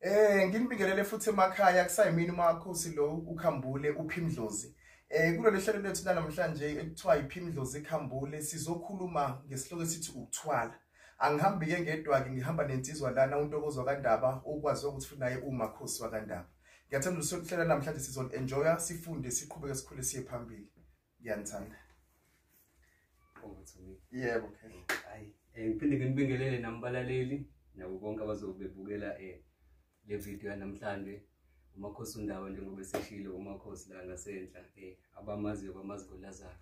Eh nginibingelele futhi emakhaya kusayimini umakhosi lo ukhambule uphimdlozi. Eh kulolu hlelo lethu namhlanje ekuthiwa iphimdlozi ikhambule sizokhuluma ngesihloko esithi ukuthwala. Angihambi ke ngedwa-ke ngihamba nensizwa lana untokozwa kandaba ukwazi ukuthi futhi naye umakhosi wakandaba. Ngiyathanda usuhlela namhlanje sizon enjoya sifunde siqhubeke sikhule siye phambili. Ngiyanithanda. Yebo okay. Hayi, eh, ngiphinde nginibingelele nambalaleli nabo bonke abazobebukela eh le video yanamhlanje umakhosi undawo njengoba eseshilo umakhosi la ngasenhla eh abamaziyo bamazi kolazaro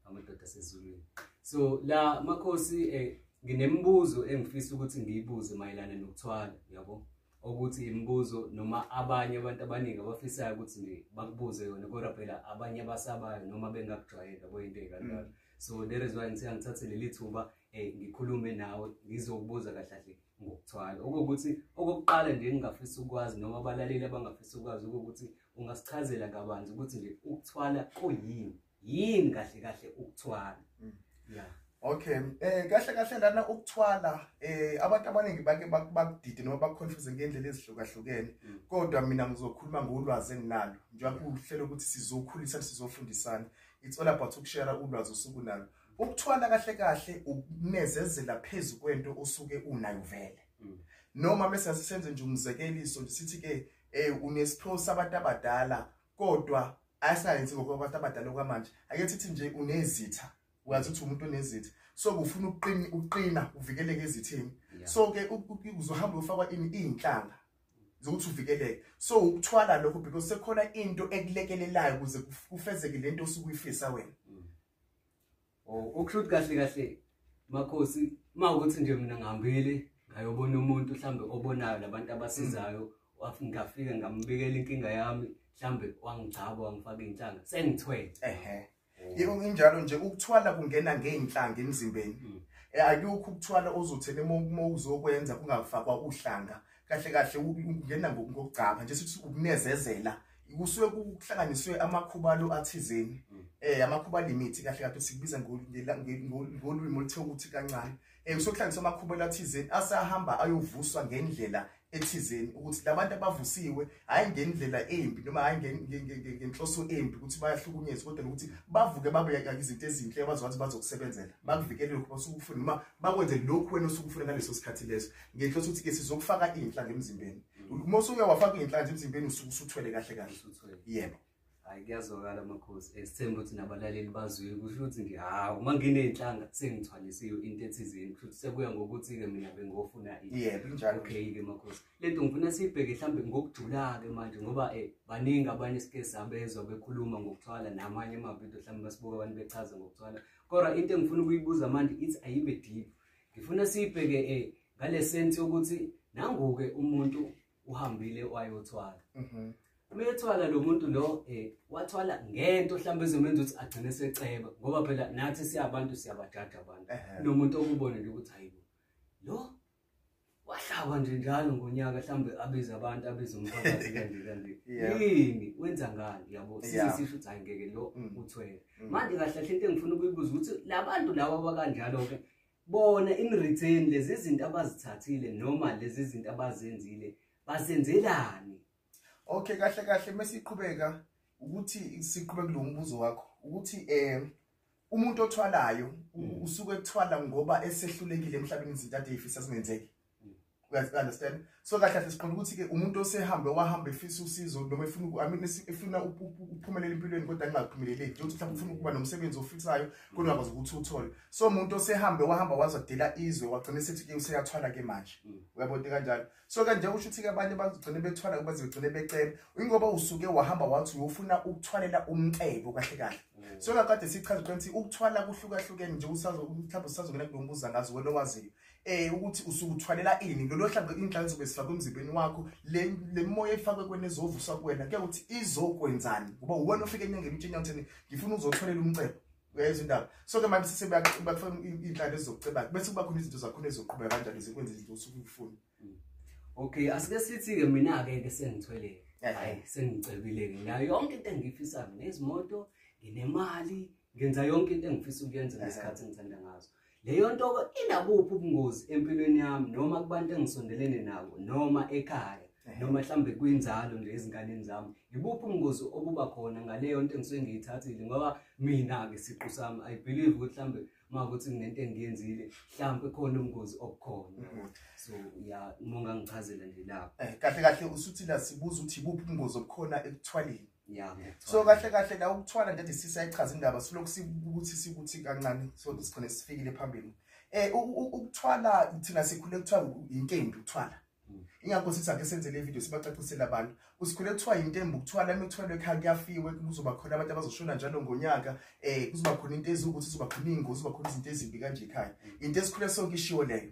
amadoda asezulwini so la makhosi eh nginemibuzo engifisa ukuthi ngiyibuze mayelana nokuthwala yabo ukuthi imibuzo noma abanye abantu abaningi abafisayo ukuthi nje bakubuze yona kodwa phela abanye abasabayo noma bengakujwayela kuyinto ekanjalo mm. so there is why ngithe angithathe leli thuba um ngikhulume nawe ngizokubuza kahle kahle ngokuthwala okokuthi okokuqala nje engingafisa ukwazi noma abalaleli abangafisa ukwazi okokuthi ungasichazela kabanzi ukuthi nje ukuthwala kuyini yini kahle kahle ukuthwala mm. ya okay eh kahle kahle lana ukuthwala eh abantu abaningi bake bakudide noma bakuconfuse ngendlela ezihlukahlukene mm. kodwa mina ngizokhuluma ngolwazi enginalo njengoba kuhlelo ukuthi sizokhulisa sizofundisana it's all about ukushare ulwazi osuku nalo Ukuthwala kahle kahle ukunezezela phezu kwento osuke unayo vele. Mm. Noma bese sisenze nje umzekeliso sithi ke eh unesiphiwo sabantu abadala kodwa ayisayenzi ngokwabantu abadala okwamanje ake sithi nje unezitha wazi ukuthi umuntu onezitha so kufuna ukuqina uqina uvikeleke ezithini so ke uzohamba ufakwa ini inhlanga zokuthi uvikeleke so ukuthwala lokho because sekhona into ekulekelelayo ukuze kufezeke lento osukuyifisa wena mm. Oh, ukusho ukuthi kahle kahle makhosi uma ukuthi nje mina ngihambile ngayobona umuntu mhlawumbe obonayo labantu abasizayo mm. ngafika ngambikela inkinga yami mhlawumbe wangigcaba wangifaka iy'nhlanga sengithwele ehe oh. yebo nginjalo nje ukuthwala kungena ngey'nhlanga emzimbeni mm. eh, akukho ukuthwala ozotheni uma uzokwenza kungafakwa uhlanga kahle kahle ungena ngokugcaba nje sithi ukunezezela kusuke kuhlanganiswe amakhubalo athizeni mm. eh amakhuba limit kahle kahle sikubiza ngolimi oluthiwa ukuthi kancane eh kusokuhlanganiswa amakhubalo athizeni asahamba ayovuswa ngendlela ethizeni ukuthi labantu abavusiwe hayi ngendlela embi noma hayi ngenhloso embi ukuthi bayahlukunyezwa kodwa ukuthi bavuke babe izinto ezinhle abazwathi bazokusebenzela bakuvikele lokhu basukufuna noma bakwenze lokhu wena osukufuna ngaleso sikhathi leso ngehloso ukuthi ke sizokufaka inhlanhla emzimbeni uma usuke wafaka inhlanhla emzimbeni usuke usuthwele kahle kahle yebo hayi kuyazwakala amakhosi esithemba ukuthi nabalaleli bazwile kusho ukuthi nje hawu uma nginey'nhlanga sengithwalisiwe into ethizeni kusho ukuthi sekuya ngokuthi-ke mina bengofuna okay-ke makhosi le nto ngifuna siyibheke mhlawumbe ngokujula-ke manje ngoba um baningi abanye sike sabezwa bekhuluma ngokuthwala namanye amavidiyo mhlawumbe basibuka abantu bechaza ngokuthwala kodwa into engifuna ukuyibuza manje ithi ayibe deep ngifuna siyibheke e ngale sense yokuthi nanguke umuntu uhambile wayothwala mhm. uma ethwala lo muntu lo um wathwala ngento mhlawumbe ezomenza ukuthi agcine seceba ngoba phela nathi siyabantu siyabajaja abantu nomuntu okubonele ukuthi hayibo lo wahlaba nje njalo ngonyaka mhlawumbe abize abantu abize umphakathi kanje kanje yini wenza ngani yabo sisisho ukuthi hayi ngeke lo mm. uthwele mm. manje kahle kahle into engifuna ukuyibuza ukuthi labantu laba bakanjalo ke bona in return lezi zinto abazithathile noma lezi zinto abazenzile basenzelani okay kahle kahle mesiqhubeka ukuthi siqhubeke lo mbuzo wakho ukuthi eh umuntu othwalayo mm. usuke ekuthwala ngoba esehlulekile emhlabeni izinto ade ifisa zingenzeki mm. uyaziunderstand so kahle kahle siqonda ukuthi-ke umuntu osehambe wahamba efisa usizo noma efuna I mean, efuna ukuphumelela empilweni kodwa kungaphumeleleki njengokuthi mhlawumbe ufuna ukuba nomsebenzi ofisayo kodwa akwazi ukuthi uthole so umuntu osehambe wahamba wazodela izwe wagcina esethi-ke useyathwala-ke manje mm. uyabonti kanjalo so kanje usho ukuthi-ke abanye bagcine bethwala kuba zigcine becela ingoba usuke wahamba wathi uyofuna ukuthwalela umcebo kahle kahle mm. so kakade sichaza qeni ukuthi ukuthwala kuhlukahlukene nje mhlawumbe usazongena kulo mbuza ngazi wena owaziyo um eh, ukuthi usuke uthwalela ini lolo hlambe indlala zobe sifakwe emzimbeni wakho le moya efakwe kwena ezovuswa kuwena kuya ukuthi izokwenzani ngoba uwena ofike enyangeni utshinya uthini ngifuna uzothwalela umcebo uyayizwa indaba so ke manje sise bakufuna iy'nhlaka ezizocebaka bese kuba khona izinto zakhona ezizoqhubeka kanjani zikwenza izinto osuke ukufuna mm. okay asike sithi-ke mina-ke ke sengithweleke hayi sengicebile-ke nginayo yonke into engiyifisayo nezimoto nginemali ngenza yonke into engifisa ukuyenza ngesikhathi engithanda ngazo Leyo nto inabuphi ubungozi empilweni yami noma kubantu engisondelene nabo noma ekhaya noma mhlawumbe kwinzalo nje ezinganeni zami yibuphi ubungozi obuba khona ngaleyo nto engisuke ngiyithathile ngoba mina-ke siqu sami i believe ukuthi mhlawumbe uma ukuthi kunento engiyenzile mhlawumbe khona ubungozi obukhona mm-hmm. so ya uma ungangichazela nje lapho um kahle kahle usuthina sibuza ukuthi yibuphi ubungozi obukhona ekuthwaleni Yeah, so kahle kahle la ukuthwala nje sisa ichaza indaba silokhu sikuthi sikuthi kancane so sigcine sifikile phambili eh ukuthwala thina sikhule kuthiwa intembi ukuthwala mm. ingakho sithi ake senze le video sibacacisele abantu usikhule kuthiwa intembi ukuthwala imithwalo ekhaya kuyafiwe kuzoba khona abantu abazoshona njalo ngonyaka eh kuzoba khona into ezukuthi kuzoba khona ingozi kuzoba khona izinto ezimbi kanje ekhaya mm. into esikhule sonke ishiwo leyo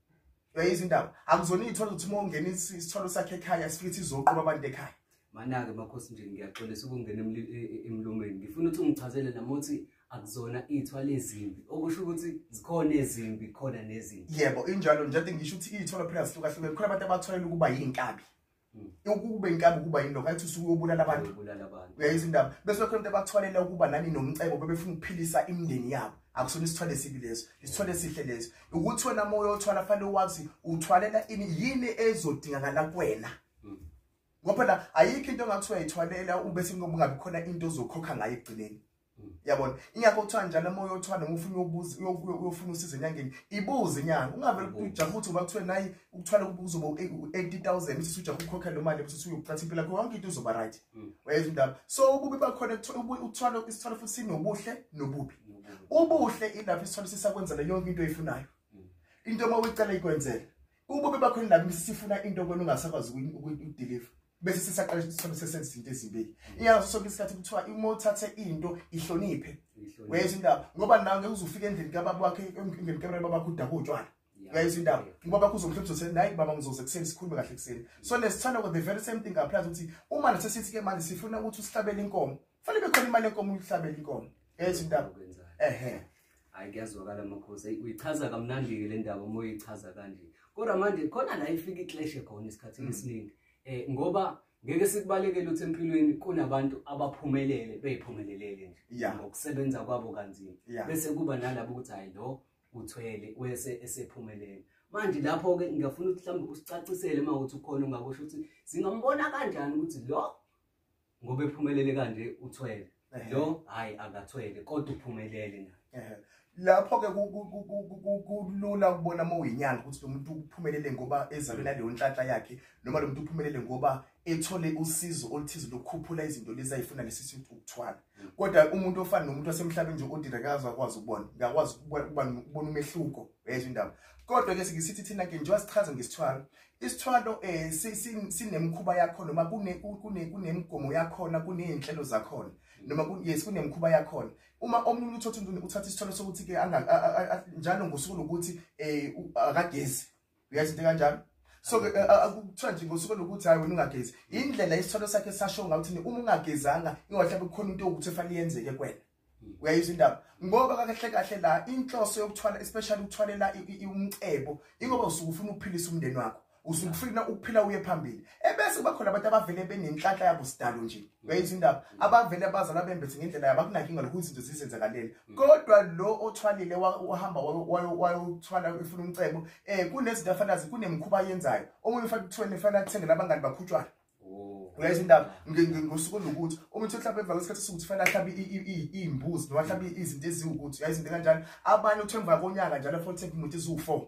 uyayizwa indaba akuzona iy'thwalo ukuthi uma ungena isithwalo sakhe ekhaya sifithi izoqoba abantu ekhaya mana-ke makhosi nje ngiyaxolisa ukungena e, e, emlomeni ngifuna ukuthi ungichazele nama ukuthi akuzona iy'thwalo ezimbi okusho ukuthi zikhona ezimbi khona nezimbi yebo injalo njade ngisho ukuthi iy'thwalo phela zihlukahlukene khona abantu abathwalela ukuba yiy'nkabi ukube inkabi ukuba yini lokho athi usuke ubulala abantu uyayizwa indaba bese lokho into ebathwalela ukuba nani nomcebo bebefuna ukuphilisa imindeni yabo akusona isithwale esibi leso isithwale esihle leso ukuthi wena moya othwala fanele wazi uthwalela ini yini ezodingakala kuwena mm. ngoba la ayikho into engathiwa yithwalela ube singoba ungabi khona into ozokhokha ngayo ekugcineni yabona ingakho kuthiwa njalo uma uyothwala ngufuna uyobuza uyofuna usizo enyangeni ibuze inyanga ungavele ujaha ukuthi uba kuthiwe nayi ukuthwala kuzoba u-eighty thousand uthi usujaha ukukhokha lo mali uthi uyokuqatha impilo yakho yonke into uzoba right mm. wayeza indaba so ububi bakhona ukuthwala isithwalo futhi sinobuhle nobubi ubuhle ilapho isithwalo sisakwenzela yonke into oyifunayo mm. into uma uyicela ikwenzela ububi bakhona ilapho sifuna into kwena ungasakwazi ukudeliver bese sesaqala sithole sesenza into ezimbili iyazi sonke isikhathi kuthiwa uma uthathe into ihloniphe wayeza indaba ngoba nawe ngeke uzufika endlini kababa wakhe endlini kababa bakho udaba utshwala wayeza indaba ngoba bakho uzomhlobisa uthi nayi baba ngizoze kuseni sikhulume kahle kuseni so lesithanda ukuthi the very same thing applies ukuthi uma nasesithi ke manje sifuna ukuthi usihlabele inkomo Fane bekhona imali enkomo uhlabela inkomo. Yes intaba. Ehhe. Hayi kuyazwakala amakhosi. Uyichaza kamnandi ke le ndaba uma uyichaza kanje. Kodwa manje khona la ifika iclash khona isikhathi mm. esiningi. Eh ngoba ngeke sikubalekele ukuthi empilweni kunabantu abaphumelele beyiphumelelele nje ngokusebenza kwabo kanzima bese kuba nalabo ukuthi hayi lo uthwele wese esephumelele manje lapho ke ngiyafuna ukuthi mhlawumbe usicacisele uma ukuthi ukhona ungakusho ukuthi singambona kanjani ukuthi lo ngoba ephumelele kanje uthwele lo hayi akathwele kodwa uphumelele naye lapho-ke kulula ukubona uma uyinyanga ukuthi lo muntu uphumelele ngoba ezalwe naleyo nhlanhla yakhe noma lo muntu uphumelele ngoba ethole usizo oluthize lokukhuphula izinto lezi ayifuna lesi sithi ukuthwala mm. kodwa umuntu ofana nomuntu wasemhlabeni nje odira kazi akwazi ukubona ngiyakwazi ukubona umehluko yezwa indaba kodwa-ke sikisithi thina-ke njengoba sichaza ngesithwalo isithwalo eh sinemkhuba yakho noma kune kune kunemigomo yakhona kunezinhlelo zakhona noma yes kunemkhuba yakhona uma omunye uthatha umuntu uthatha isithwalo sokuthi ke njalo ngosuku lokuthi eh akagezi uyazi into kanjalo so ke eh, akuthiwa nje ngosuku lokuthi hayi wena ungagezi indlela isithwalo sakhe sasho ngakuthi uma ungagezanga ingahlabe kukhona into yokuthi efanele yenzeke kwena uyayizwa indaba ngoba kakahle kahle la inhloso yokuthwala especially ukuthwalela umcebo ingoba usuke ufuna ukuphilisa umndeni wakho usuke ufuna ukuphila uye phambili ebese kuba khona abantu abavele benenhlanhla yabo sidalo nje uyayizwa indaba abavele abazalwa bembethe ngendlela yabo akunankinga lokhu izinto zizenzakalele kodwa lo othwalile wahamba wayothwala ufuna umcebo um kunezinto afanazi kunemikhuba ayenzayo omunye ufana kuthweni fanele athengele abangani bakhutshwana Oh. uyayizwa indaba ngosuku olukuthi uma uthi uhlaba emva kwesikhathi sokuthi fanele ahlabe iy'mbuzi noma ahlabe izinto eziwukuthi uyayizinto kanjalo abanye uthi emva konyaka njalo afothe umuntu eziwu-four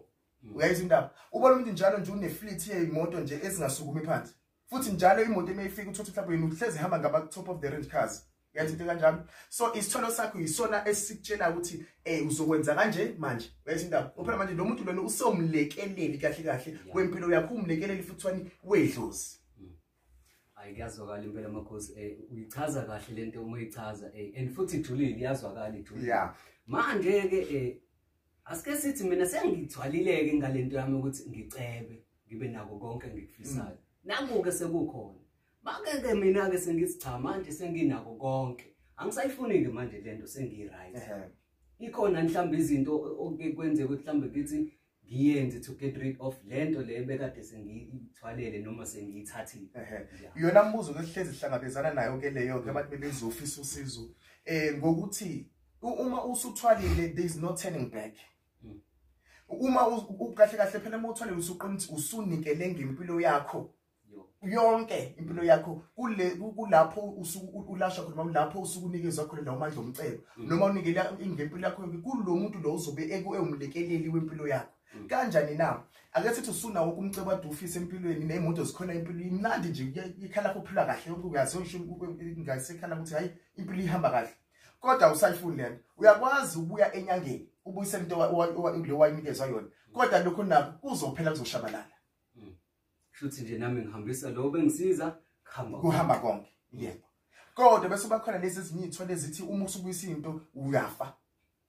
mm. uyayizwa indaba ubona umuntu njalo nje une-fleet yey'moto nje ezingasukumi phansi futhi njalo imoto uma ifika uthi uthi mhlawumbe yena uhlezi ihamba ngaba-top of the range cars uyazi into kanjalo so isithwalo sakho yisona esikutshela ukuthi um uzokwenza kanje manje uyazi indaba ngophela manje lo muntu lona usewumlekeleli kahle kahle wempilo yakho umlekeleli futhwani wedlozi hmm. hayi kuyazwakala impela amakhosi um eh, uyichaza kahle le nto uma uyichaza um and futhi ijulile iyazwakala ijulile ya manje-ke um asike sithi mina sengithwalileke ngale nto yami ukuthi ngicebe ngibe nako konke engikufisayo hmm. nakuke sekukhona Makeke mina ke sengithi cha manje senginako konke. Angisayifuni ke manje lento sengi right. Ikhona mhlawumbe izinto oke kwenzeka ukuthi mhlawumbe kithi ngiyenze to get rid of lento le bekade sengiyithwalele noma sengiyithathile. Iyona mbuzo ke sihlezi sihlangabezana nayo ke leyo ke abantu bebezofisa usizo eh ngokuthi uma usuthwalile there is no turning back. Hmm. Uma ukahle kahle phela uma uthwalile usuqinisa usunikele ngempilo yakho. yonke impilo yakho kule kulapho usuku ulasha khona noma lapho usuku unikezwa khona lawo mandla omcebo mm. noma unikela ingempilo yakho yonke kulomuntu lo uzobe ekuwumlekeleli wempilo yakho mm. kanjani na ake sithi usuna wonke umcebo ade ufise empilweni nemoto zikhona impilo imnandi nje ikhala lapho uphila kahle yonke uyazi usho ngasekhala ukuthi hayi impilo ihamba kahle kodwa usayifuni lento uyakwazi ukuya enyangeni ubuyise into le wayinikezwa yona kodwa lokho nakho kuzophela kuzoshabalala shuthi nje nami ngihambisa lo bengisiza kuhamba kuhamba konke yebo kodwa bese bakhona lezi ezinye iy'thwele ezithi uma usubuyisa into uyafa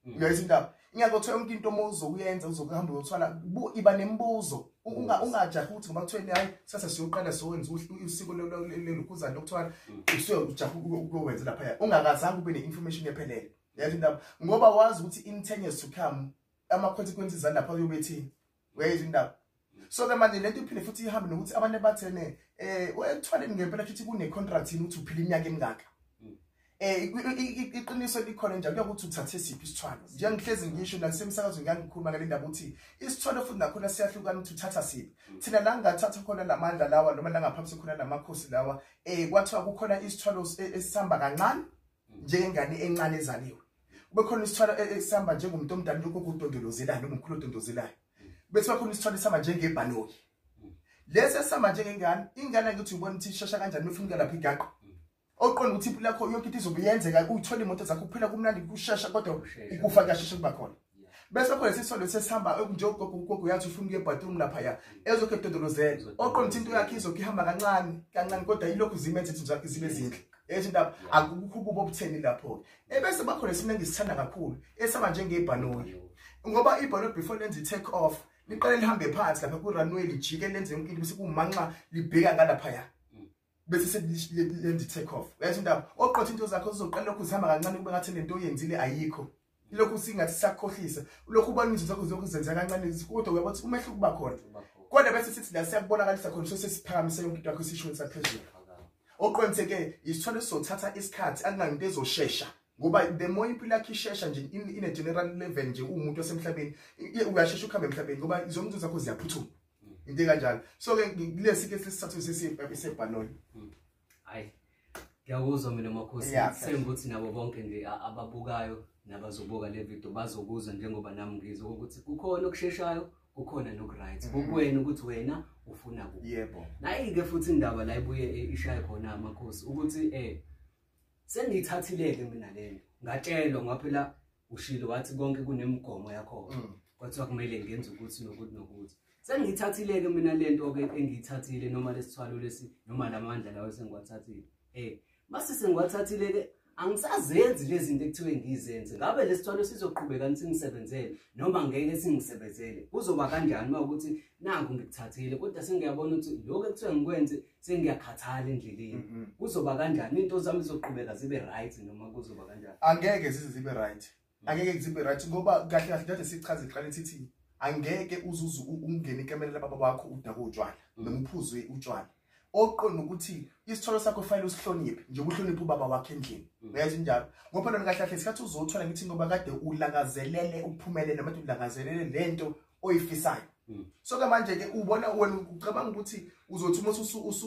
mm. uyayisa indaba ingakho kuthiwa yonke into uma uzokuyenza uzokuhamba uyothwala iba nemibuzo ungajahi ukuthi ngoba kuthiweni hhayi sase siyoqala siyowenza usiko lelukhuzane lokuthwala mm. usuyojaha ukuyowenza laphaya ungakazange ube ne-information ephelele yazi indaba ngoba wazi ukuthi in ten years to come ama-consequences alapha uyobe ethini wezi ndawo so ke manje lento iphinde futhi ihambe nokuthi abantu bathene eh ekuthwaleni ngempela futhi kune contract yini ukuthi uphila iminyaka emingaka hmm. eh iqiniso likhona nje kuyokuthi uthathe siphi isithwalo njengihlezi ngisho nasemsakazweni ngiyangikhuluma ngale ndaba ukuthi isithwalo futhi nakhona siyahlukana ukuthi uthatha siphi hmm. thina la ngathatha khona lamandla lawa noma la ngaphambi sekhona lamakhosi lawa eh kwathiwa kukhona isithwalo e, esihamba kancane njengengane encane ezaliwe kube khona isithwalo e-, esihamba njengomuntu omdala lokho kudondolozelayo noma umkhulu odondozelayo bese bakhona isithwalo esihamba njengebhanoyi lesi esihamba njengengane ingane angithi uyibona ukuthi ishesha kanjani uma ifunika lapho igaqa oqonda ukuthi impilo yakho yonke into izobe yenzeka uyithola imoto zakho kuphela kumnandi kushesha kodwa ukufa kuyashesha kuba khona bese khona sisolo sesihamba njengogogo ugogo yathi ufuna ukuye bathroom laphaya ezokhe edodolozela oqonda ukuthi into yakhe izokhe ihamba kancane kancane kodwa yilokhu zimenza izinto zakhe zibe zinhle ethi indaba akukho ukuba obutheni lapho-ke ebese bakhona esimna engisithanda kakhulu esihamba njengebhanoyi ngoba ibhanoyi before lenze i-take off liqale lihambe phansi lapha ku-runway lijike lenze yonke into bese kumanxa libheka ngalaphaya mm. bese sekulendi take off uyathi indaba oqotha into zakho uzoqala lokhu zihamba kancane kube ngathi lento oyenzile ayikho lokhu singathi sakhohlisa lokhu ubona izinto zakho zokuzenza kancane kodwa uyabona ukuthi umehluko uba khona kodwa bese sithi la siyakubonakalisa khona sose siphakamise yonke into yakho isishweni saphezulu oqontheke isithole sothatha isikhathi akunanto ezoshesha ngoba the more impilo yakhe ishesha nje in a general level nje umuntu wasemhlabeni uyashesha ukuhamba emhlabeni ngoba zonke izinto zakho ziyaphuthuma into kanjalo so ke kulesi ke sisathu sisiphe sebhaloni hayi ngiyakuzwa mina makhosi senga ukuthi nabo bonke nje ababukayo nabazobuka le video bazokuzwa njengoba nami ngizwa ukuthi kukhona okusheshayo kukhona nokuryt mm-hmm. kukuwena ukuthi wena ufuna ku yebo nayi-ke futhi indaba la ibuye e, ishaye khona amakhosi ukuthi um eh, sengiyithathileke mina lento ngatshelwa ngaphela ushilo wathi konke kunemigomo yakhona mm. kwathiwa kumele ngenze ukuthi nokuthi nokuthi sengiyithathile-ke mina le nto-ke engiyithathile noma lesithwalo lesi noma la mandla lawo sengiwathathile um mase sengiwathathile-ke angisazenzi lezi zinto ekuthiwe ngizenze ngabe lesi thwalo sizoqhubeka ni singisebenzele noma ngeke singisebenzele kuzoba kanjani uma ukuthi naku ngikuthathile kodwa sengiyabona ukuthi lokhu ekuthiwe ngikwenze sengiyakhathala endleleni mhm. kuzoba kanjani into zami zoqhubeka zibe right noma kuzoba kanjani angeke zize zibe right mm. angeke zibe right ngoba kahle kahle nje sichaze iqale sithi angeke uzuze ungene ikamela lababa bakho udaka utshwala mm. noma uphuzwe utshwala oqonda ukuthi isithwalo sakho fanele usihloniphe nje uhloniphe ubaba wakhe endlini mm. uyazi njalo ngoba lona kahle kahle isikhathi uzothola ngithi ngoba kade ulangazelele ukuphumelela manje ulangazelele lento oyifisayo hmm. so ke manje ke ubona wena ucabanga ukuthi uzothi uma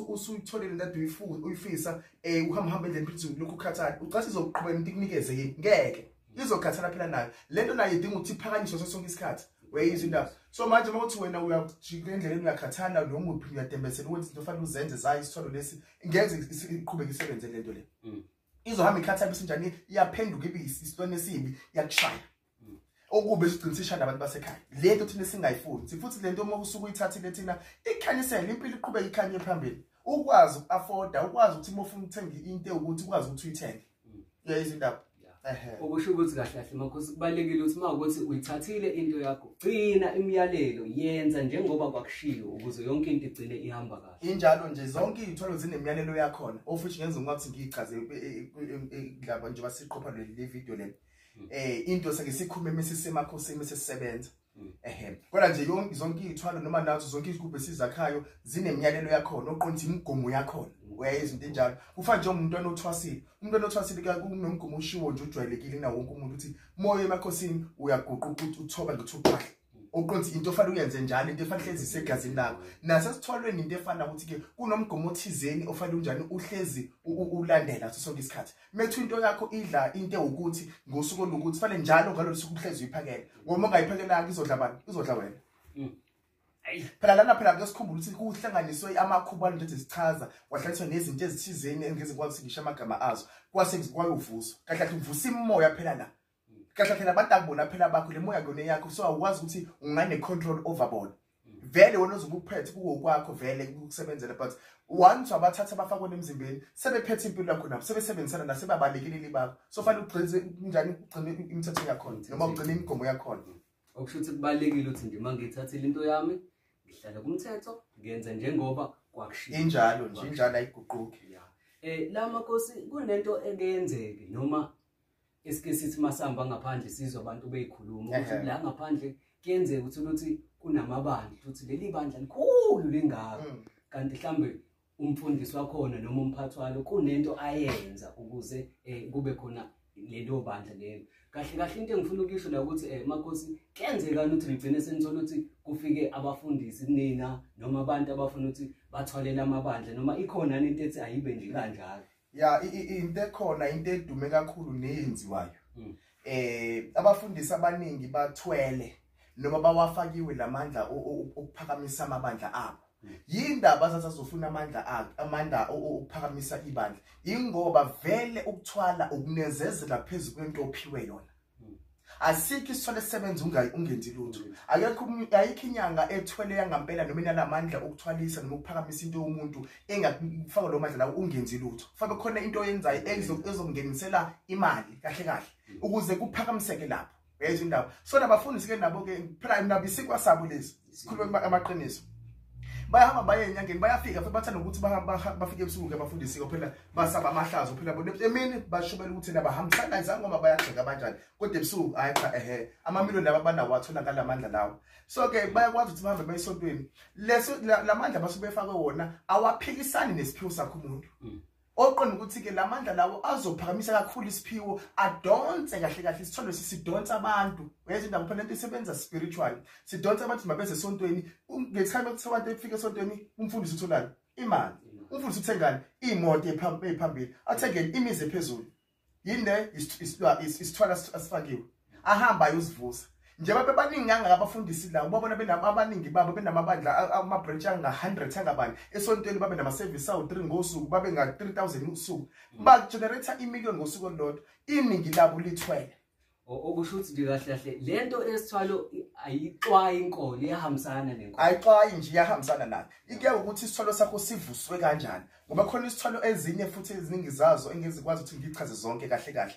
usuyitholile into ade uyifisa um eh, uhamba hamba endleni philizini kulokhu ukhathale ucathi izoqhubeka into ikunikeze yini ngeke izokhathana phela nayo le nto nayo idinga ukuthi iphakanyiswe so sonke isikhathi weyizwa indaba so manje uma uthi wena uyajika endleleni uyakhathana nomuphi uyadembesela ukuthi into fanele uzenze zayo isitholo lesi ngeze iqhubeke isebenze le nto le hmm. izohamba ikhathaphisinjani iyaphenduka ibe isilwane esibi iyakushaya okube siqinisisha nabantu basekhaya lento thina singayifuni sifuthi lento uma usuke uyithathile thina ikhanyisele impilo iqhubeka ikhanye phambili ukwazi uku-afforda ukwazi ukuthi uma ufuna ukuthenga into ewukuthi ukwazi ukuthi uyithenge mm. uyayizwa indaba okusho ukuthi kahle kahle makhosi kubalekile ukuthi uma ukuthi uyithathile into yakho gcina imiyalelo yenza njengoba kwakushiwo ukuze yonke into igcine ihamba kahle injalo nje zonke iy'thwalo zinemiyalelo yakhona ofuthi ngenza ngokuthi ngiyichaze e, e, e, indaba njengoba siqopha le video lena hmm. eh into sake sikhume mesisemakhosini sesisebenza hmm. ehe kodwa nje yonke zonke izithwalo noma nazo zonke izigubhe sizakhayo zinemiyalelo yakhona oqonda imigomo yakhona hmm. uyaye izinto enjalo kufana nje umuntu anothwasile umuntu anothwasile ke kunomgomo ushiwo nje ujwayelekile na wonke umuntu uthi moya emakhosini uyaguquqa uthoba ngithi uqhahle uqonda into ofanele uyenze njalo into efanele hlezi isegazini lakho nasesithwalweni into efana ukuthi ke kunomgomo othizeni ofanele unjani uhlezi ulandela so sonke isikhathi methu into yakho idla into ukuthi ngosuku olukuthi fanele njalo ngalolu suku uhlezi uyiphakela ngoba ungayiphakelanga izodla bani izodla wena mm. phela lana phela kusikhumbula ukuthi kuhlanganiswe amakhuba alento ezichaza kwahlanganiswa nezinto ezithizeni engizikwazi ukuthi ngisho amagama azo kwase kwayovuswa kahle kahle uvusa imimoya phela la kahle phela abantu akubona phela bakho le moya kuyona yakho so awukwazi ukuthi ungane control over bona vele wena uzobe ukuphethe kuwo kwakho vele ukusebenzela but once wabathatha abafakwe emzimbeni sebephethe impilo yakho nabo sebesebenzisana nasebabalekeleli bakho so fanele ugcine njani ugcine imithetho yakhona noma ugcine imigomo yakhona okusho ukuthi kubalekile ukuthi nje mangithathile into yami ngihlala kumthetho ngenze njengoba kwakushiya injalo nje injalo ayiguquki eh la makosi kunento ekenzeke noma Isike sithi masihamba ngaphandle sizwa abantu beyikhuluma ukuthi la ngaphandle kuyenzeka ukuthi ukuthi kunamabandla ukuthi leli bandla likhulu lingaka mm. kanti mhlambe umfundisi wakhona noma umphathi walo kunento ayenza ukuze eh, kube khona lelo bandla lelo kahle kahle into engifuna ukuyisho la ukuthi eh makhosi kenzekani ukuthi ligcine senithola ukuthi kufike abafundisi kunina noma abantu abafuna ukuthi bathwalele amabandla noma ikhona into ethi ayibe nje kanjalo ya into ekhona into edume kakhulu neyenziwayo mm. eh abafundisi abaningi bathwele noma bawafakiwe lamandla ukuphakamisa amabandla abo mm. yindaba sasazofuna amandla akhe amandla ukuphakamisa ibandla ingoba vele ukuthwala ukunezezela phezulu kwento ophiwe yona asikho isithole sebenza ungenzi lutho akekho ayikho inyanga ethwele yangampela noma inalamandla okuthwalisa noma ukuphakamisa into yomuntu engakufaka lo mandla lawo ungenzi lutho fabe khona into oyenzayo ezongenisela imali kahle kahle ukuze kuphakamiseke lapho yayizwa indaba so nabafundisi ke nabo ke phela nabo isikwasabo lezi sikhulume amaqiniso bayahamba baye enyangeni bayafika futhi bathanda ukuthi bafike ebusuku ke bafundisiwe phela basaba amahlazo phela bona emini bashubela ukuthi naba hambisana izange ngoba bayagxeka abanjani kodwa ebusuku hayi cha ehe amamiliyoni laba banawo atholakala amandla lawo so ke bayakwazi ukuthi bahambe bayisontweni leso lamandla basuke befakwe wona awaphikisani nesiphiwo sakho umuntu mm. oqonda ukuthi-ke la mandla lawo azophakamisa kakhulu isiphiwo adonse kahle kahle isithole sisidonsa abantu uyeza indawo phela into isebenza spiritual sidonsa abantu mabeze esontweni ngesikhathi kuthiwa abantu efika esontweni umfundisi utholani imali umfundisi uthengani iy'moto ephambili athengeni imizi ephezulu yini le isithwala asifakiwe ahamba ayozivusa njengoba bebaningi kangaka abafundisi la ubabona abaningi babo benamabandla ama-branch anga-hundred angabani esontweni babe nama-service awu-three ngosuku babe nga-three thousand usuku bagenerate imillion ngosuku olulodwa iningi labo lithwele okusho ukuthi nje kahle kahle le nto esithwalo ayixwayi inkolo iyahambisana nenkolo ayixwayi nje iyahambisana nayo ikuya ukuthi isithwalo sakho sivuswe kanjani ngoba khona isithwalo ezinye futhi eziningi zazo engizikwazi ukuthi ngichaze zonke kahle kahle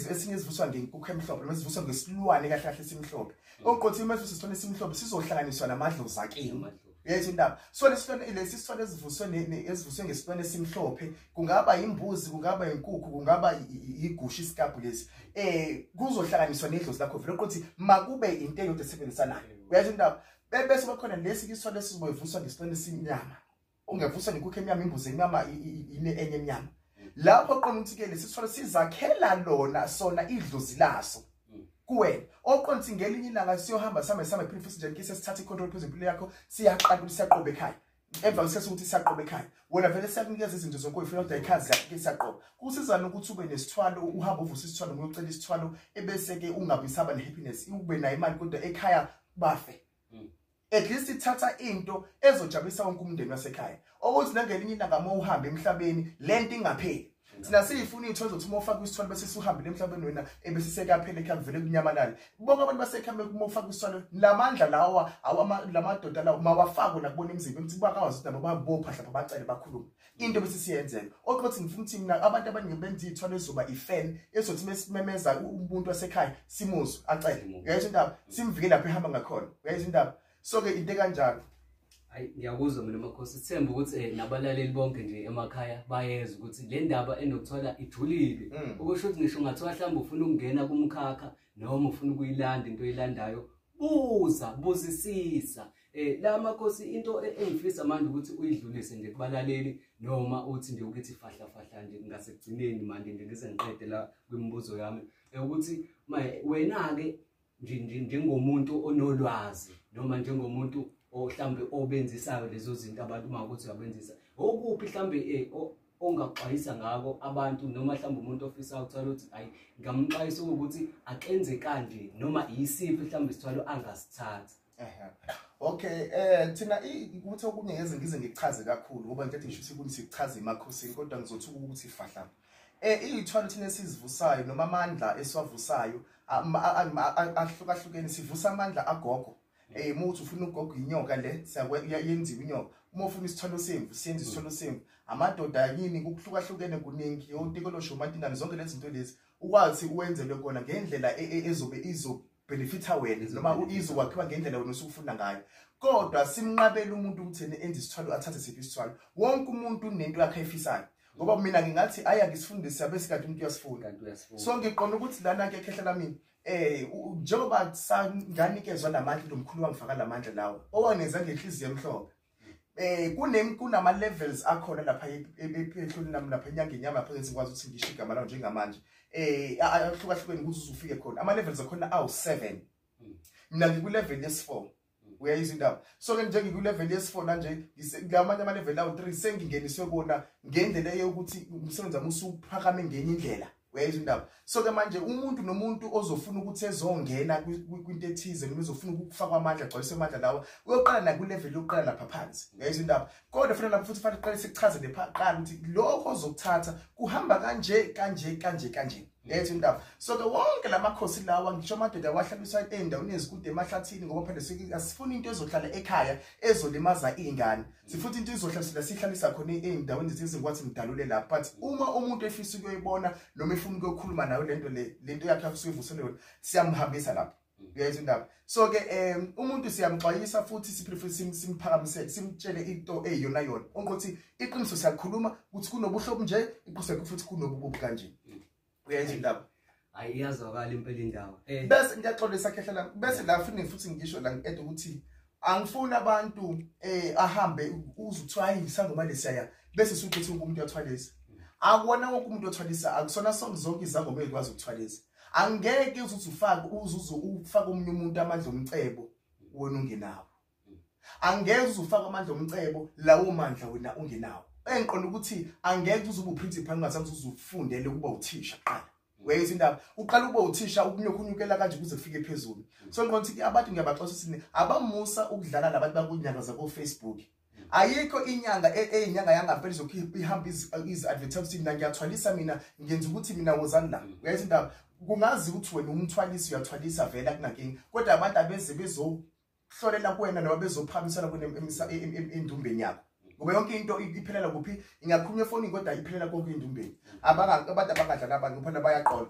esinye ezivuswa ngenkukhu emhlophe noma ezivuswa ngesilwane kahle kahle esimhlophe mm. oqothi uma sivuswa isithwalo esimhlophe sizohlanganiswa namadlozi akini yethu indaba so lesilwane lesi silwane esivuswe esivuswe ngesilwane esimhlophe kungaba imbuzi kungaba inkukhu kungaba igusha isikabhu lesi eh kuzohlanganiswa nedlozi lakho vele ukuthi makube into eyodwa esebenzisanayo uyasho indaba bese bakhona lesi isilwane esizoyivuswa ngesilwane esinyama ungevuswa nekukho emnyama imbuzi enyama ine enye emnyama lapho qonithike lesisifo sizakhela lona sona idlozi laso kuwena oqonthi ngelinye ilanga siyohamba same same phela futhi nje ngise sithatha icontrol phezu impilo yakho siyaqala ukuthi siyaqobe ekhaya emva kwesikhathi ukuthi siyaqobe ekhaya wena vele siyakunikeza izinto zonke uyifuna kodwa ikhazi yakho ke siyaqoba kusizana ukuthi ube nesithwalo uhamba uvusa isithwalo ngoyocela isithwalo ebese ke ungabi saba ne happiness ube nayo imali kodwa ekhaya bafe mm. at least ithatha into ezojabulisa wonke umndeni wasekhaya okuthi nangelinye ilanga uma uhambe emhlabeni le nto ingapheli mm. thina siyifuna iy'thole zokuthi uma ufake isithwalo bese siwuhambile emhlabeni wena ebese sekaphele khe kuvele kunyamalale bonke abantu basekhame uma ufake isithwalo la mandla lawa la madoda lawo mawafakwe nakubona emzimbeni ukuthi bakwazi ukuthi nabo babopha hlapha bacele bakhulume into bese siyenzeka oqothi ngifuna ukuthi mina abantu abaningi benza ithwalo ezoba ifan ezothi mesimemeza umuntu wasekhaya simuzwe acele mm. uyayizwa indaba mm. simvikele lapho ehamba ngakhona uyayizwa indaba so ke into kanjalo hayi ngiyakuzwa mina makhosi sithemba ukuthi eh, nabalaleli bonke nje emakhaya bayeza ukuthi le ndaba enokuthola ijulile mm. okusho ukuthi ngisho ungathiwa mhlawumbe ufuna ukungena kumkhakha noma ufuna ukuyilanda into oyilandayo buza buzisisa eh la makhosi into e-, engifisa manje ukuthi uyidlulise nje kubalaleli noma uthi nje ukuthi fahla fahla nje ngasekugcineni manje nje ngise ngiqede la kwimibuzo yami eh, ukuthi wena ke njengomuntu onolwazi noma njengomuntu ohlambe obenzisayo lezo zinto abantu uma ukuthi uyabenzisa okuphi hlambe eh, ongaxwayisa ngako abantu noma mhlawumbe umuntu ofisa ukuthola ukuthi ayi ngamxwayisa ukuthi akenze kanje noma yisiphi mhlawumbe isithwalo angasithatha okay eh thina ukuthi okunye ngeze ngize ngichaze kakhulu ngoba ngithi ngisho ukuthi kunisi kuchaza emakhosini kodwa ngizothuka ukuthi fahla eh izithwalo thina esizivusayo noma amandla esiwavusayo ahlukahlukene sivusa amandla agogo Eh uma uthi ufuna ugogo inyoka le siyayenziwa inyoka. Uma ufuna isithwalo semvu senza isithwalo mm. semvu. Amadoda yini kuhlukahlukene kuningi yotikolosho umantingane zonke lezi zinto lezi. Ukwazi uwenzelwe kona ngendlela e, e, ezobe izo benefitha wena noma uizo wakhiwa ngendlela wena osukufunda ngayo kodwa simnqabela umuntu ukuthi enze isithwalo athathe siphi isithwalo wonke umuntu unento yakhe ayifisayo ngoba mina ngingathi aya ngisifundise abesikade umuntu uyasifunda sonke iqona ukuthi lana ke khehlela mina Eh njengoba sanganikezwa lamandla lomkhulu wangifaka lamandla lawo owangenza ngenhliziyo emhlophe eh kunem kunama levels akhona lapha e, e, e, ephehlweni nami lapha enyangeni yami lapha ngithi ngikwazi ukuthi ngisho igama lawo njengamanje eh ahlukahlukene ukuthi uzufike khona ama levels akhona awu 7 mina ngiku level yesi 4 uyayizwa indaba so ke nje ngikulevel yesifona nje ngilamanye amalevel awu 3 sengingeniswe kona ngendlela eyokuthi umsebenzi wami usuphakame ngenye indlela uyayizwa indaba so ke manje umuntu nomuntu ozofuna ukuthi ezongena kwinto ethize noma ezofuna ukufakwa amandla agcwalise amandla lawa uyoqala nakulevel yokuqala lapha phansi uyayizwa indaba kodwa fanele lapho futhi fanele uqale sikuchaze nepha qala ukuthi lokho ozokuthatha kuhamba kanje kanje kanje kanje letho indaba so ke wonke lamakhosi lawa ngisho amadoda wahlabiswa endaweni ezikude emahlathini ngoba phela asifuni into ezohlala ekhaya ezolimaza izingane sifuthi into izohlabisela sihlalisa khona ezindaweni zezingwathi ngidalule la but uma umuntu efisa ukuyoyibona noma efuna ukuyokhuluma nayo lento le lento yakhe afisa uyivuselwe yona siyamhambisa lapho uyayizwa indaba so ke um umuntu siyamxwayisa futhi siphilifuni simphakamisele simtshele into eyiyona yona onke ukuthi iqiniso siyakhuluma ukuthi kunobuhlobo nje iqiniso futhi kunobukubi kanje uyayizwa indaba hayi iyazwakala impela indaba eh. bese ngiyaxolisa khehla la bese la futhi futhi ngisho la ngiqeda ukuthi angifuni abantu eh ahambe uzuthiwa isangoma lesiyaya bese suthi ukuthi umuntu uyathwalisa akuwona wonke umuntu othwalisa akusona sonke zonke izangoma ezikwazi ukuthwalisa angeke uzuthi ufake uzuze ufake omunye umuntu amandla omcebo wena ungenawo angeke uzufake amandla omcebo lawo mandla wena ungenawo engiqonda ukuthi angeke uzuba uprincipal ungazazi uzufundele ukuba uthisha qala wayeza indaba uqala ukuba uthisha ukunyukunyukela kanje kuze kufike phezulu so nqona ukuthi abantu ngiyabaxosa sini abamusa ukudlala nabantu bakunyanga zabo Facebook ayikho inyanga eyinyanga e, yangapeli zokhipha ihamba izi advertise mina ngiyathwalisa mina ngenza ukuthi mina wozani la uyayeza indaba kungazi ukuthi wena umthwalisi uyathwalisa vele akunankinga kodwa abantu abeze bezo hlolela kuwena noma bezophakamisela kuwena endumbeni yakho ngoba yonke into iphelela kuphi ingakhulunywa efonini kodwa iphelela konke endumbeni abantu abangadla kabantu kuphana bayaqola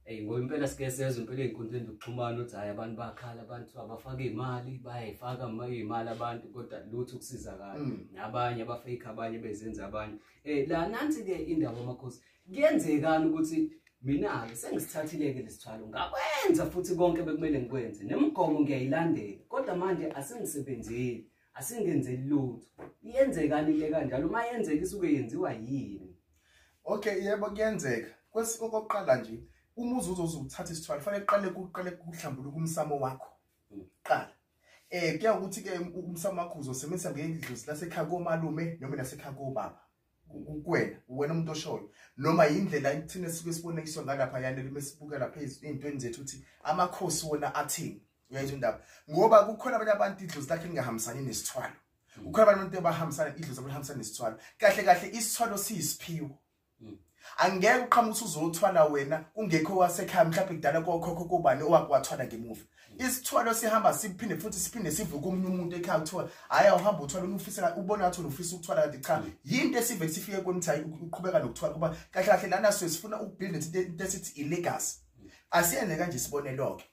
Hey ngoba impela sike sezwe impela ezinkundleni zokuxhumana ukuthi hayi abantu bakhala abantu abafaka imali bayayifaka imali abantu kodwa lutho ukusizakala mm. nabanye abafake abanye bezenza abanye eh la nansi ke indawo amakhosi Kuyenzekani ukuthi mina-ke sengisithathile-ke lesithwalo ngakwenza futhi konke bekumele ngikwenze nemigomo ngiyayilandela kodwa manje asingisebenzeli asingenzeli lutho iyenzekani into ekanjalo uma yenzeka isuke yenziwa yini okay yebo kuyenzeka okokuqala nje uma uzuze uzokuthatha isithwalo fanele kuqale kuqale kuhlambuluka umsamo wakho hmm. qala um kuya ukuthi-ke umsamo wakho uzosebenzisa ngeyindluzi lasekhaya komalume noma nasekhaya kobaba kuwena uwena umuntu oshoyo noma yindlela ithina sike sibonekiswa ngalapha yanele mesibukela phezulu intweni zethu ukuthi amakhosi wona athini uyayizwa indaba ngoba kukhona abanye abantu idlozi lakhe lingahambisani nesithwalo kukhona abanye abantu abahambisana idlozi abahambisana nesithwalo kahle kahle isithwalo siyisiphiwo hmm. angeke uqhamuthi uzothwala wena kungekho wasekhaya mhlawumbe kudala kokhokho kobani owakuwathwala ngemuva isithwalo sihamba siphinde futhi siphinde sivuke omunye umuntu ekhaya kuthiwa hhayi awuhambe uthwala unufisela ubona ngathi unufisa ukuthwala kanti cha mm. yinto esive sifike kweni ukuthi hayi uqhubeka nokuthwala kuba kahle kahle lana suke sifuna ukubuild into into esithi ilegacy mm. asiyenze kanje isibonelo-ke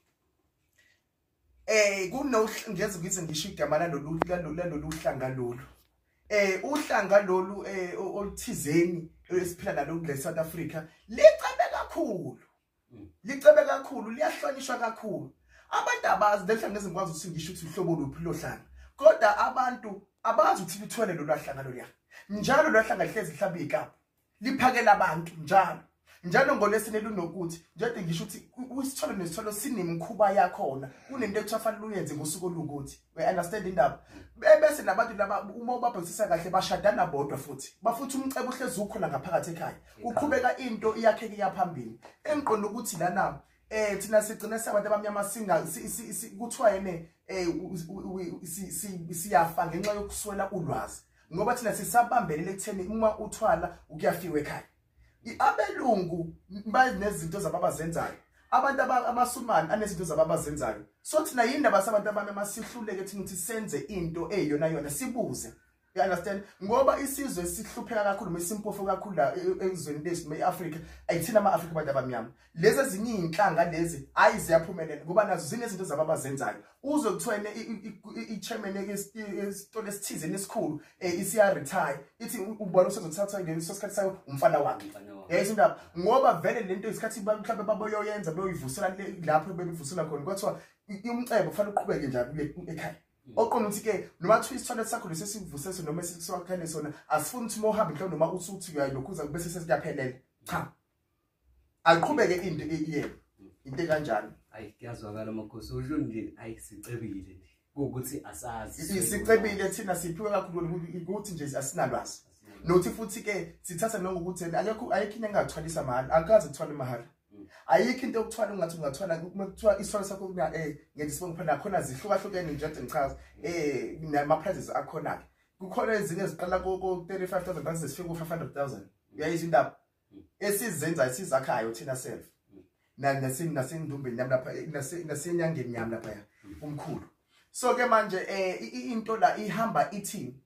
eh kunongeze ngize ngisho igama lalolu lalolu hlanga lolu eh uhlanga lolu eh oluthizeni esiphila nalo kule South Africa licebe kakhulu mm. licebe kakhulu liyahlonishwa kakhulu abantu abazi lehla ngezingikwazi ukuthi ngisho ukuthi uhlobo luphi lohlanga kodwa abantu abazi ukuthi lithwele lolwahlanga lolya njalo lwahlanga lihlezi lihlaba ikapu liphakela abantu njalo njalo ngolesine lunokuthi njade ngisho ukuthi isithole nesithole sinemkhuba yakhona kunento ekuthiwa fanele uyenze ngosuku olukuthi we understand indaba bese nabantu laba uma ubabhekisisa kahle bashadana bodwa futhi bafuthi umcebo uhlezi ukhona ngaphakathi ekhaya kuqhubeka into iyakheke iyaphambili engiqonda ukuthi lana eh thina sigcine sabantu abamnyama singa kuthiwa yene eh siyafa ngenxa yokuswela ulwazi ngoba thina sisabambelele ekutheni uma uthwala ukuyafiwa ekhaya abelungu banezinto zabo abazenzayo abantu amasumane anezinto zabo abazenzayo so thina yini ndaba sabantu abami masihluleke thina ukuthi senze into eyiyona yona sibuze you understand ngoba isizwe sihlupheka kakhulu mesimpofu kakhulu la e, e, ezweni lethu me-afrika ayithina ama-afrika abantu abamnyama lezi ezinye iy'nhlanga lezi hhayi ziyaphumelela ngoba nazo zinezinto zabo abazenzayo uzwe kuthiwa i-chairman esitolo esithizeni esikhulu um eh, isiyaretire ithi ubona usezothathwa ngeleso sikhathi sayo umfana wakhe yayisa indaba ngoba vele le nto isikhathi mhlawumbe baboyoyenza beyoyivusela lapho bebivusela khona kwathiwa umcebo kufanele uqhubeke njalo ekhaya Mm. oqonda ukuthi ke noma kuthiwa isitholet sakho lesi esivuseso noma esiwakhele sona asifuni ukuthi uma uhambe mhlawumbe noma usuthi uyayilokhuza bese sesiyaphelela cha ayiqhubeke into eyiyena into ekanjani hayi kuyazwakala makhosi usho nje hayi sicebile nje ukuthi asazi sicebile thina siphiwe kakhulu ukuthi nje asinalwazi nothi futhi ke sithatha noma ukuthi akekho ayikho into engathwalisa mahhala akaze kuthwala mahhala mm. ayikho into yokuthwala ungathi ungathwala uma kuthiwa isithwalo sakho kuya eh ngenza isibongo phela khona zihlukahlukene nje nje ngichaza eh nama prizes akhona ke kukhona ezinye eziqala ko 35000 rand zifika ku 500000 uyayizindaba esizenzayo sizakhayo thina self nasini nasendumbeni yami lapha nasenyangeni yami lapha ya umkhulu so ke manje eh into la ihamba ithini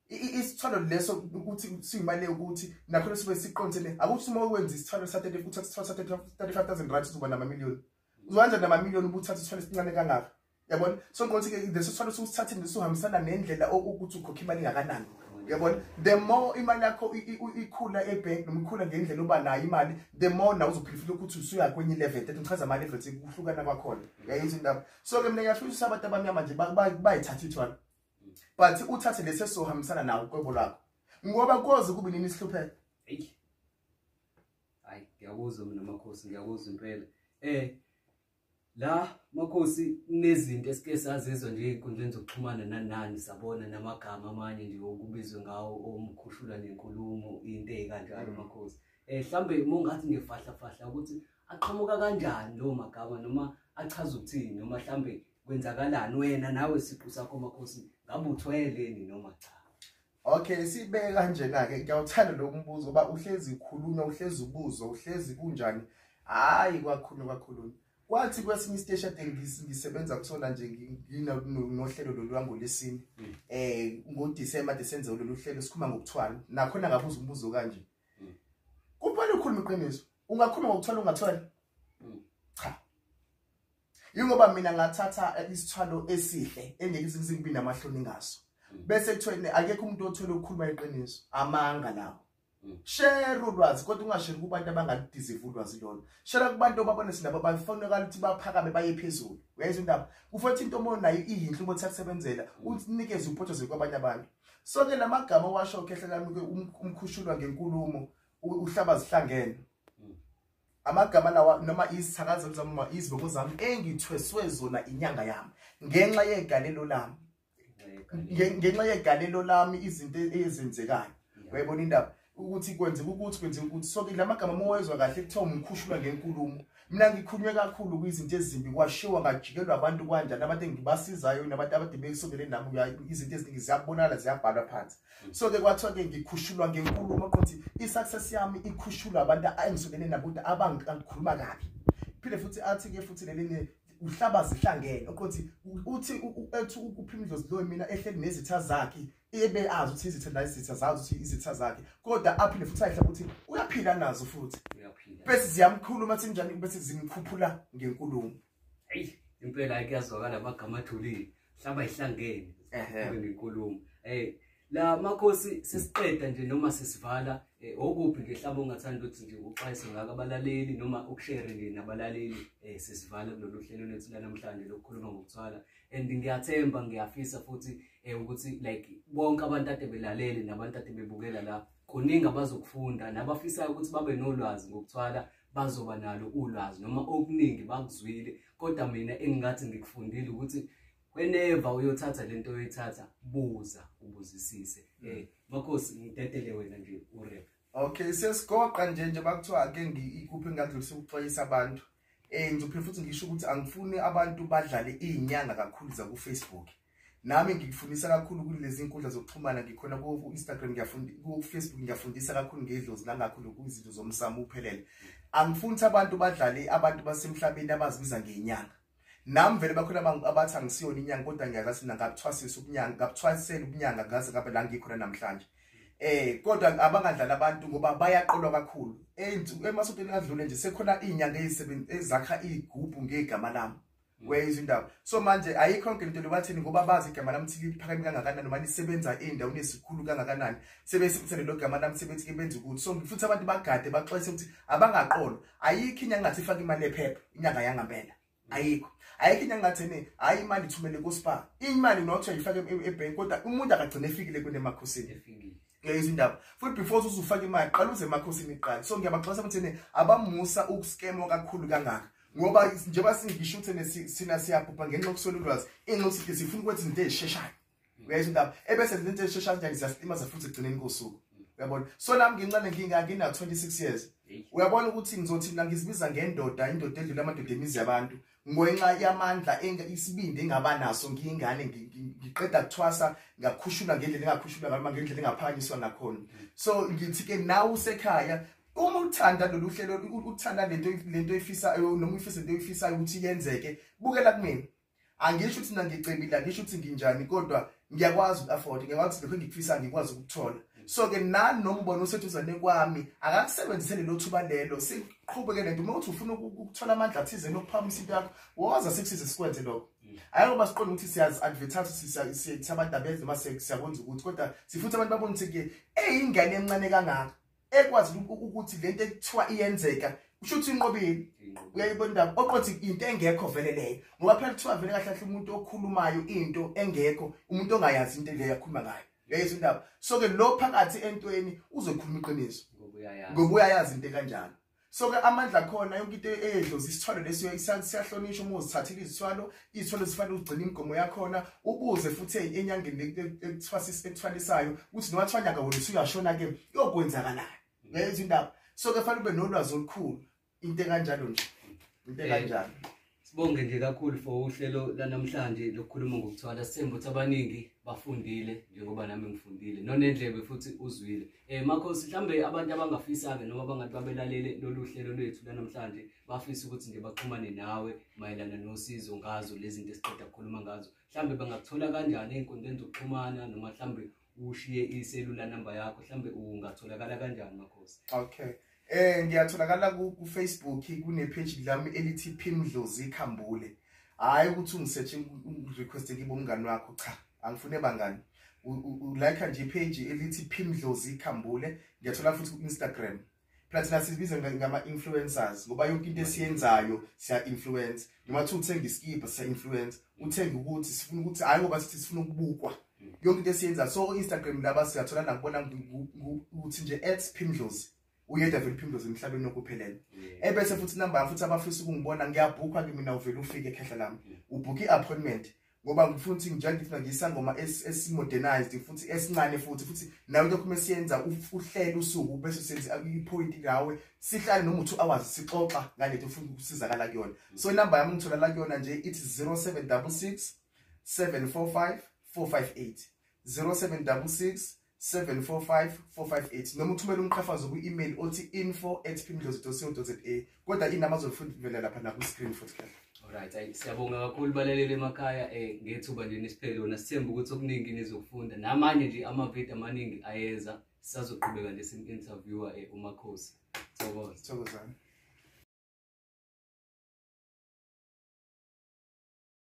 isithwalo leso ukuthi siyimali ukuthi nakho sibe siqondene akuthi uma ukwenza isithwalo sa 30 futhi isithwalo sa 35000 rand uzoba nama million uzokwenza nama million ubuthatha isithwalo esincane kangaka yabona so ngiqothi ke leso sithwalo usithathile nisuhambisana nendlela okuthi ukhokha imali engakanani yabona the more imali yakho ikhula ebank noma ikhula ngendlela oba nayo imali the more nawe uzophilifila ukuthi usuya kwenye level that ngichaza ama levels kuhlukana kwakhona yayenza indaba so ke mina ngiyafisa ukuthi abantu abamnyama nje bayithatha ithwala but uthathe lesi esizohambisana nawo uqwebo lwakho ngoba koze kube nini isihlupheko eyi hayi ngiyakuzwa mina makhosi ngiyakuzwa impela um la makhosi kunezinto esike sazizwa nje ey'nkundleni zokuxhumana nanani sabona namagama amanye nje okubizwe ngawo omkhushula nenkulumo into ey'kanjalo mm. makhosi um eh, mhlawumbe mongathi ngefahlafahla ukuthi aqhamuka kanjani lowo magama noma achaza ukuthini noma mhlawumbe kwenzakalani wena nawe siqu sakho makhosi ngabe uthweleni noma cha Okay sibeke kanjena ke ngiyawuthanda lo mbuzo uba uhlezi khuluma uhlezi ubuzo uhlezi kunjani hayi kwakhulu kwakhulu kwathi kwesinye isiteshi ade ngisebenza kusona nje nginohlelo lolwango lesini mm. eh ngoDecember ade senze lolu hlelo sikhuluma ngokuthwala nakhona ngabuza umbuzo kanje mm. kuphela ukhuluma iqiniso ungakhuluma ngokuthwala ungathwala Yingoba mina ngathatha isithwalo esihle engeke ngibe namahloni ngaso. Mm. Bese kuthweni akekho umuntu othola ukukhuluma iqiniso. Amanga lawo. Mm. Share ulwazi kodwa ungashare kubantu abangalidizivula ulwazi lolo. Share kubantu obabona sinabo bafaneleka ukuthi baphakame baye phezulu. Uyayizwa indaba? Kufothi into omoyo nayo iyinhle uma uthakusebenzela, mm. unikeze uphothozwe kwabanye abantu. So ke lamagama washo khehla lami umkhushulwa ngenkulumo uhlaba zihlangene. amagama lawa noma izithakazelo zami noma izibongo zami engithweswe zona inyanga yami ngenxa yegalelo lami ngenxa yegalelo lami izinto ezenzekayo uyayibona indaba ukuthi kwenzeka ukuthi kwenzeka ukuthi so ke lamagama mowezwa kahle kuthiwa umkhushulwa ngenkulumo mina ngikhunywe kakhulu kwizinto ezimbi kwashiwa ngajikelwa abantu kwanjani abantu engibasizayo nabantu abadibeke sondeleni nami izinto eziningi ziyabonakala ziyabhalwa phansi so ke kwathiwa ke ngikhushulwa ngenkulumo ukuthi i-success yami ikhushulwa abantu engisukene nabo ukuthi abangikhuluma kabi phinde futhi athi ke futhi lelinye uhlaba zihlangene ukuthi uthi ethi ukuphimdlozi loyo mina ehleli nezitha zakhe ebe azi ukuthi izitha la izitha zazi ukuthi izitha zakhe kodwa aphinde futhi ayihle ukuthi uyaphila nazo futhi uyaphila bese ziyamkhuluma sinjani bese zimkhuphula ngenkulumo eyi impela ayike yazwakala amagama athulile hlaba ihlangene kube ngenkulumo um la makhosi sesiqeda nje noma sesivala um okuphi nje hlaba ongathanda ukuthi nje uxwayise ngako abalaleli noma ukushere nje nabalaleli um sesivala kulolu hlelo lethu lanamhlanje lokukhuluma ngokuthwala and ngiyathemba ngiyafisa futhi um ukuthi like bonke abantu ade belalele nabantu ade bebukela la kuningi abazokufunda nabafisayo ukuthi babe nolwazi ngokuthwala bazoba nalo ulwazi noma okuningi bakuzwile kodwa mina engingathi ngikufundile ukuthi whenever uyothatha lento oyithatha buza ubuzisise mm. eh makhosi ngidedele wena nje urep okay sesigoqa nje nje bakuthiwa ake ngikuphi ngadlulisa ukuxwayisa abantu eh ngizophinde futhi ngisho ukuthi angifuni abantu badlale izinyanga kakhulu zakufacebook nami ngikufundisa kakhulu kulezi nkundla zokuxhumana ngikhona ku-instagram ku-facebook ngiyafundisa kakhulu ngedlozi nangakhulu kwizinto zomsamo uphelele angifuni ukuthi abantu badlale abantu basemhlabeni abazibiza ngenyanga nami vele bakhona abathi angisiyona inyanga kodwa ngiyazathi mina ngabuthwasisa ubunyanga ngabuthwasisela ubunyanga ngaze ngabe la ngikhona namhlanje eh kodwa abangadlala abantu ngoba bayaqolwa kakhulu emasontweni adlule nje sekhona inyanga ezakha igubhu ngegama lami weyizwa indaba so manje ayikho yonke into lobathini ngoba bazi igama lami ukuthi liphakeme kangakanani noma lisebenza indawo nesikhulu kangakanani sebesebenzisa lelo gama lami sebethi ke benza ukuthi so futhi abantu bagade baxwayise ukuthi abangaqolo ayikho inyanga ngathi ifake imali ephepha inyanga yangempela ayikho ayikho inyanga ngathi ne hayi imali ithumele ku-spa imali not uyifake e-, e-bank kodwa umuntu akagcine efikile kunemakhosini leyo izindaba futhi before usufaka imali qala uze emakhosini iqala so ngiyabaxwayisa ukuthi abamusa ukuscamwa kakhulu kangaka ngoba njengoba singisho ukuthi sina siyabhubha ngenxa yokuswela ulwazi inxa ukuthi sifuna ukwenza izinto ezisheshayo uyayizwa indaba ebese izinto ezisheshayo njani ziyasilimaza futhi ekugcineni kosuku uyabona so nami ngincane ngingina 26 years uyabona ukuthi ngizothi nangizibiza ngendoda indoda edlula amadoda emizi yabantu ngenxa yamandla isibindi engaba naso ngiyingane ngiqeda kuthwasa ngakhushulwa ngendlela engakhushulwa ngaloma ngendlela engaphakanyiswa ngakhona so ngithi-ke nawe usekhaya uma uthanda lolu hlelo uthanda lento lento efisayo noma uyifisa into efisayo ukuthi yenzeke bukela kumina angisho ukuthi nangicebile angisho ukuthi nginjani kodwa ngiyakwazi uku-afforda ngiyakwazi lokho engikufisayo ngikwazi ukuthola so-ke nani noma ubona useduzane kwami akakusebenzisele lo thuba lelo siqhubeke nento uma uthi ufuna ukuthola amandla athizeni okuphamisa into yakho woza sikusize sikwenze lokho hhayi ngoba siqonde ukuthi siyazi-advertise siyabadabeza noma siyakwenza ukuthi kodwa sifuthi abantu babone ukuthi-ke eyingane encane kangaka ekwazi ukuthi lento ekuthiwa iyenzeka kusho ukuthi inqobile uyayibona indaba oqothi into engekho vele leyo ngoba phela kuthiwa vele kahle kahle umuntu okhulumayo into engekho umuntu ongayazi into leyo akhuluma ngayo uyayizwa indaba so ke lo phakathi entweni uzokhuluma iqiniso ngoba uyayazi into kanjalo so ke amandla khona yonke into eyedlozi isithwalo leso siyahlonishwa uma uzithathile izithwalo izithwalo zifanele ugcine imigomo yakhona ubuze futhi enyangeni ekuthwalisayo ukuthi noma kuthiwa nyaka wona usuyashona ke yokwenzakalani ngezo indaba so ke fanele ube nolwazi olukhulu into enkanjalo nje into enkanjalo Sibonge nje kakhulu for uhlelo lanamhlanje lokukhuluma ngokuthwala sithemba ukuthi abaningi bafundile njengoba nami ngifundile nonendlebe futhi uzwile eh makho sihlambe abantu abangafisanga noma bangathi babelalele lolu hlelo lwethu lanamhlanje bafisa ukuthi nje baxhumane nawe mayelana nosizo ngazo lezi zinto esiqeda kukhuluma ngazo mhlambe bangakuthola kanjani ey'nkundleni zokuxhumana noma mhlambe ushiye iselula number yakho mhlambe ungatholakala kanjani makhosi okay eh ngiyatholakala ku Facebook kune page lami elithi Phimdlozi Khambule hayi ukuthi ungisearch request kibo umngani wakho cha angifune bangani ulike nje page elithi Phimdlozi Khambule ngiyathola futhi ku Instagram phela thina sizibiza ngama-influencers ngoba yonke into esiyenzayo siya-influence noma kuthiwa uthenga isikibha siya-influence uthenga ukuthi sifuna ukuthi hhayi ngoba sithi sifuna ukubukwa yonke into esiyenzayo so instagram laba siyathola nakubona ukuthi nje at phimdlozi uyedwa vele uphimdoze emhlabeni nokuphelele ebese futhi inamba yam futhi abafisa ukungibona ngiyabhukha kimi mina uvele ufike ekhehla lami ubhukhe i-appointment ngoba ngifuna ukuthi njengoba ngifuna ngisangoma esimodernized futhi esincane futhi futhi nawe lokho mesiyenza uhlele usuku bese senze ipoint ngawe sihlale noma u2 hours sixoxa ngale nto ufuna ukusizakala kuyona so inamba yami ngithola la kuyona nje ithi 0766 745 458 0766 745 458 noma uthumele umqhafazo kwi-email othi info at pimdlozi.co.za kodwa inamba zolifundivela lapha nakwi-screen futhi kahle Alright, ayi siyabonga kakhulu balaleli emakhaya eh ngethuba nje nisiphele lona sithemba ukuthi okuningi nizokufunda namanye nje amavidiyo amaningi ayeza sisazoqhubeka nje sim interviewer eh uMakhosi. Thokoza. Thokozani.